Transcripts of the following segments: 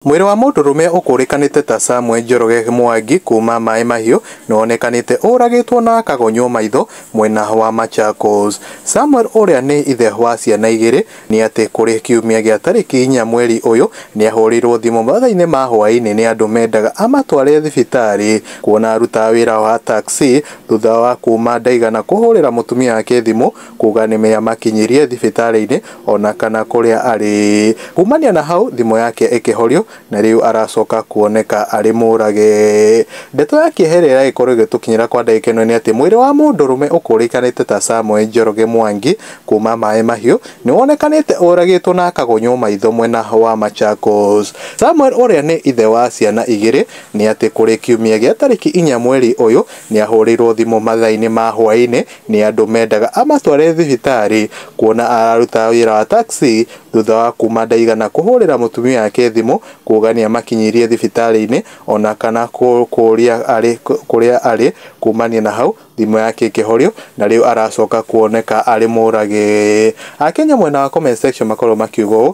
Mwĩrĩ wa mũndũrũme ũkũrĩkanĩte ta Samuel Njoroge Mwangi kuuma Maĩ Mahiũ nĩwonekanĩte ũragĩtwo na akagonywo maitho mwena wa Machakos. Samuel ũrĩa nĩ ithe wa ciana igĩrĩ nĩ atĩ kũrĩ kiumia gĩa tarĩki inya mweri ũyũ nĩahũrĩirwo thimũ mathaa-inĩ ma hwaĩ-inĩ nĩ andũ mendaga amatware thibitarĩ kuona arutaga wĩra wa taxi thutha wa kuuma Ndaigana kũhũrĩra mũtumia wake thimũ kuuga nĩmeamakinyirie thibitarĩ-inĩ ona kana kũrĩa arĩ. Kumania na hau thimũ yake ĩkĩhorio na rĩu aracoka kuoneka arĩ mũrage. Ndeto ya kĩeha ĩrĩa ĩragĩkorwo ĩgĩtũkinyĩra kwa ndagĩka ĩno nĩ atĩ mwĩrĩ wa mũndũrũme ũkũrĩkanĩte ta Samuel Njoroge Mwangi kuma Maĩ Mahiũ nĩwonekanĩte ũragĩtwo na akagunywo maitho mwena wa Machakos. Samuel ũrĩa nĩ ithe wa ciana igĩrĩ nĩ atĩ kũrĩ kiumia gĩa tarĩki inya mweri ũyũ nĩahũrĩirwo thimũ mathaa-inĩ ma hwaĩ-inĩ Nĩ andũ mendaga amatware thibitarĩ kuona ararutaga wĩra wa taxi thutha wa kuma ndaigana kũhũrĩra mũtumia wake thimũ kuga nĩamakinyirie thibitarĩ-inĩ ona kana kũũria arĩ kũrĩa arĩ kumania na hau thimũ yake ĩkĩhorio na rĩu aracoka kuoneka arĩ mũrage. Akenya mwena wa comment section makoragwo makiuga ũũ.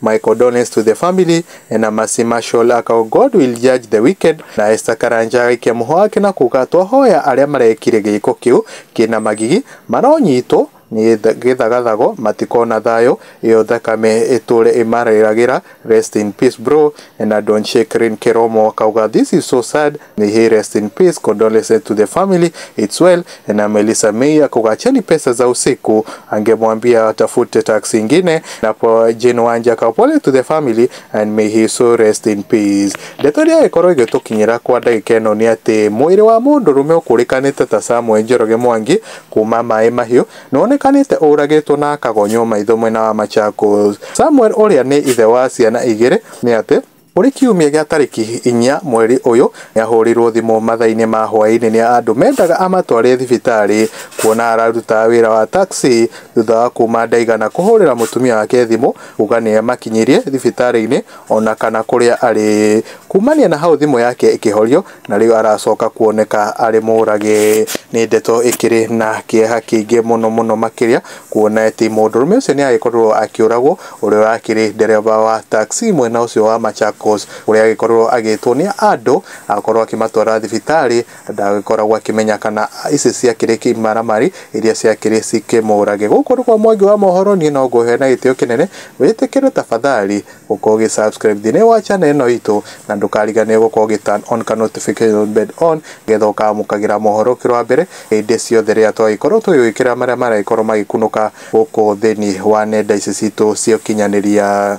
My condolence to the family and a mercy marshal akao God will judge the wicked na Esther Karanja agaikia mũhwa wake na kuga twahoya arĩa marekire gĩĩko kĩu kĩna magigi maronyitwo nĩ gĩthagathago matikona thayũ ĩyo thakame ĩtũre ĩmarĩragĩra rest in peace bro and I don't shake Rin Keromo akauga this is so sad May he rest in peace condolences to the family it's well na Melissa May akukaacheni pesa za usiku angemwambia atafute taksi ingine na po Jane Wanja kapole to the family and may he so rest in peace ndeto iria ikorwo igitukinyira kwa ndagika ino ni ati mwiri wa mundu rume ukurikanite ta Samuel Njoroge Mwangi kuma Maĩ Mahiũ nĩwonekanĩte ũragĩtwo na akagonywo maitho mwena wa Machakos. Samuel ũrĩa nĩ ithe wa ciana igĩrĩ nĩ atĩ Kũrĩ kiumia gĩa tarĩki inya mweri ũyũ, nĩahũrirwo thimũ mathaa-inĩ ma hwaĩ-inĩ nĩ andũ mendaga amatware thibitarĩ kuona ararutaga wĩra wa taxi thutha wa kuma ndaigana kũhũrĩra mũtumia wake thimũ kuga nĩamakinyirie thibitarĩ-inĩ ona kana kũrĩa arĩ. Kumania na hau thimũ yake ĩkĩhorio na rĩu aracoka kuoneka arĩ mũrage nĩ ndeto ĩkĩrĩ na kĩeha kĩingĩ mũno mũno makĩria kuona atĩ mũndũrũme ũcio nĩ agĩkorirwo akĩũragwo ũrĩa ũrakĩrĩ ndereba wa taxi mwena ũcio wa Machakos ũrĩa agĩkorirwo agĩtwo nĩ andũ akorwo akĩmatwara thibitarĩ ndagĩkoragwo akĩmenya kana ici ciakĩrĩ kĩmaramari iria ciakĩrĩ cikĩmũrage. Gũkũ nĩ kwa Mwangi wa Mohoro niĩ no ngũhe na gĩtĩo kĩnene wĩtĩkĩre tafadhali Gũkorwo ũgĩ subscribe thĩinĩ wa channel ĩno itũ na ndũkariganĩrwo gũkorwo ũgĩ turn on ka notification bell on nĩgetha ũkamũkagĩra mohoro ũkĩrĩ wa mbere hĩndĩ ciothe rĩrĩa twagĩkorwo tũgĩgwĩkĩrĩra marĩa maragĩkorwo magĩkunũka gũkũ thĩinĩ wa nenda ici citũ cia ũkinyanĩria.